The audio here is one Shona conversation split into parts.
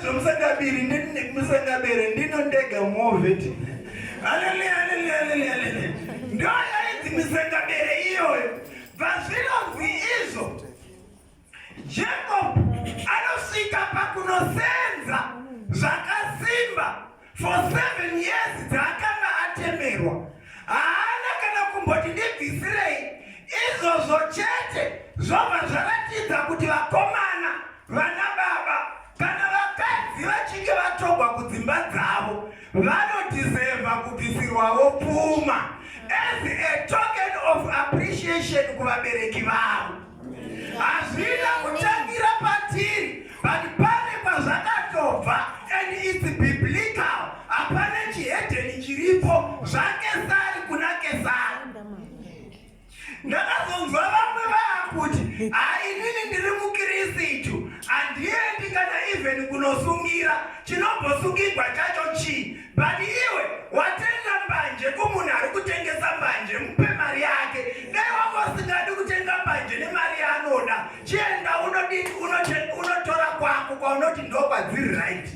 Zvomusangabiri ndimusangabere ndino ndega moveti. Hallelujah, hallelujah, hallelujah, hallelujah. Ndio yaiti misangabere iyoyo. Vazvinonzi izvo. Jacob anosvika pakunosenza zvakasimba for seven years dzaakanga atemerwa haana kana kumboti ndibvisirei izvozvo chete zvobva zvaratidza kuti vakomana vana baba kana vakadzi vachinge vatogwa kudzimba dzavo vanodhizevha kubvisirwawo pfuma as a token of appreciation kuvabereki vavo Hazvina kutangira patiri but pane kwazvakatobva and it's biblical. Hapana chihedheni chiripo zvakesari kuna kesari. Ndakazonzwa vamwe vaakuti hainini ndiri mukirisitu handiendi kana even kunosungira chinombosungigwa chacho chii But iwe watenga mbanje kumunhu ari kutengesa mbanje mupe mari yake dai wanga usingadi kutenga mbanje nemari yaanoda chienda unodini unotora kwako kwaunoti ndokwadziri right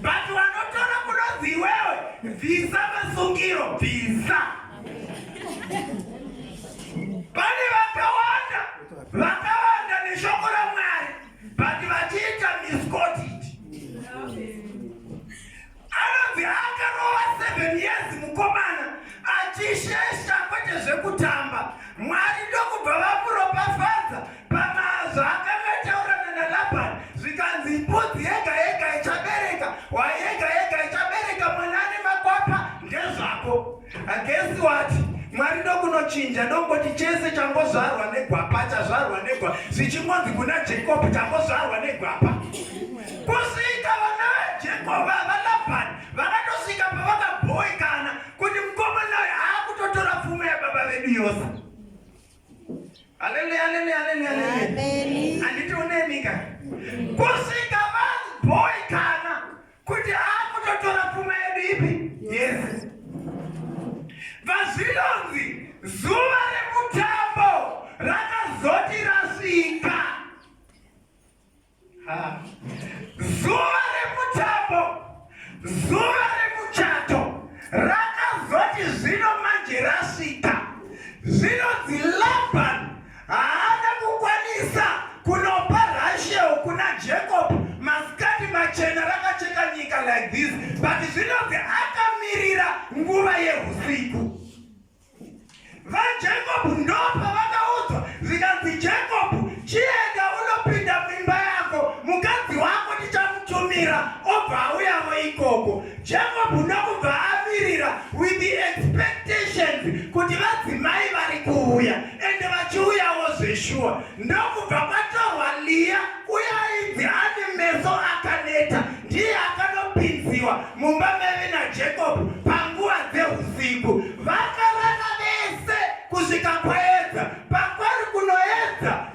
but wanotora kunonzi iwewe bvisa masungiro bvisa pane vakawanda vakawanda neshoko ramwari but vachiita miscoti anonzi akarova 7 years mukomana achishesha kwete zvekutamba mwari ndokubva vamuropafadza pamazvo akangataurana nalabhan zvikanzi mbudzi yega yega ichabereka wayega yega ichabereka mwana ane makwapa ndezvako Agesi wati mwari ndokunochinja ndongoti chese changozvarwa negwapa chazvarwa negwa zvichingonzi kuna jacob changozvarwa negwapa kusvika vana vajacob valabhani vakatosvika pavakabhoikana kuti mukomanayo aakutotora pfumo yababa vedu yose aleluya aleluya aleluya aleluya anditi unemika kusvika vabhoikana kuti akutotora pfuma yedu ipi yes vazvinonzi zuva rekutambo rakazoti rasvika zuva rekutambo zuva rekuchato rakazoti zvino manje rasvika zvinonzi laban Haana kukwanisa kunopa Rachel kuna Jacob masikati machena rakacheka nyika like this but zvinonzi akamirira nguva yehusiku. VaJacob ndopa vakaudzwa zvikanzi Jacob chienda unopinda muimba yako mukadzi wako tichamutumira obva auyavo ikoko. Jacob ndokubva amirira with the expectations kuti vadzimai vari kuuya ende vachiuyawo zveshuwa ndokubva kwatorwa Leah uye ainzi ane meso akaneta ndiye akanopinziwa mumba meve naJacob panguva dzeusiku vakarara vese kusvika kwaedza pakwari kunoedza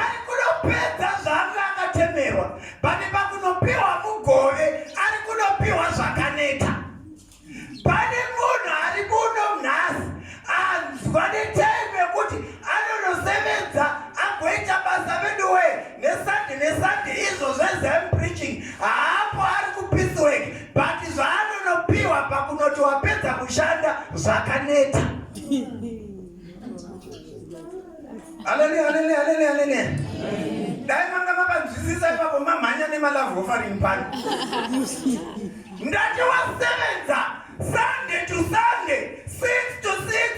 Ari kunopedza zvaanga akatemerwa pane pakunopiwa mugove ari kunopiwa zvakaneta. Pane munhu ari muno nhasi anzwa netai mekuti anonosevenza agoita basa veduwe nesande nesande izvo zvezem preaching haapo ari kupiswek but zvaanonopiwa pakunoti wapedza kushanda zvakaneta. Haleluya, haleluya, haleluya, haleluya. Dai manga makanzwisisa ipapo mamhanya nemalove offering pano. Ndati wasevenza Sunday to Sunday, 6 to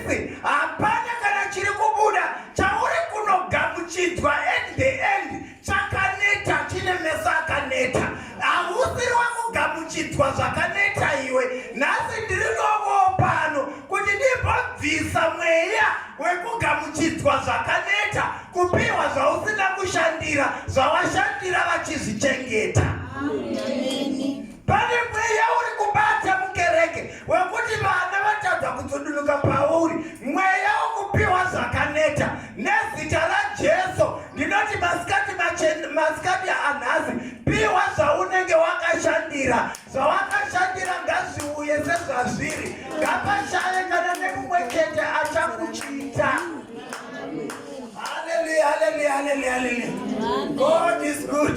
6, hapana kana chiri kubuda chauri kunogamuchidzwa at the end. chakaneta chine meso akaneta hausiri wakugamuchidzwa zvakaneta iwe nhasi ndiri novo pano kuti ndimbobvisa mweya wekugamuchidzwa zvakaneta kupiwa zvausina kushandira zvawashandira vachizvichengeta Amen. Pane mweya uri kubata mukereke wekuti vana vatadza kutsudunuka pauri, mweya wokupiwa zvakaneta nezita raJesu. Ndinoti masikati masikati anhasi, piwa zvaunenge wakashandira, zvawakashandira ngazviuye sezvazviri, ngapashaye kana nemumwe chete achakuchiita. Hallelujah, hallelujah, hallelujah, hallelujah. God is good.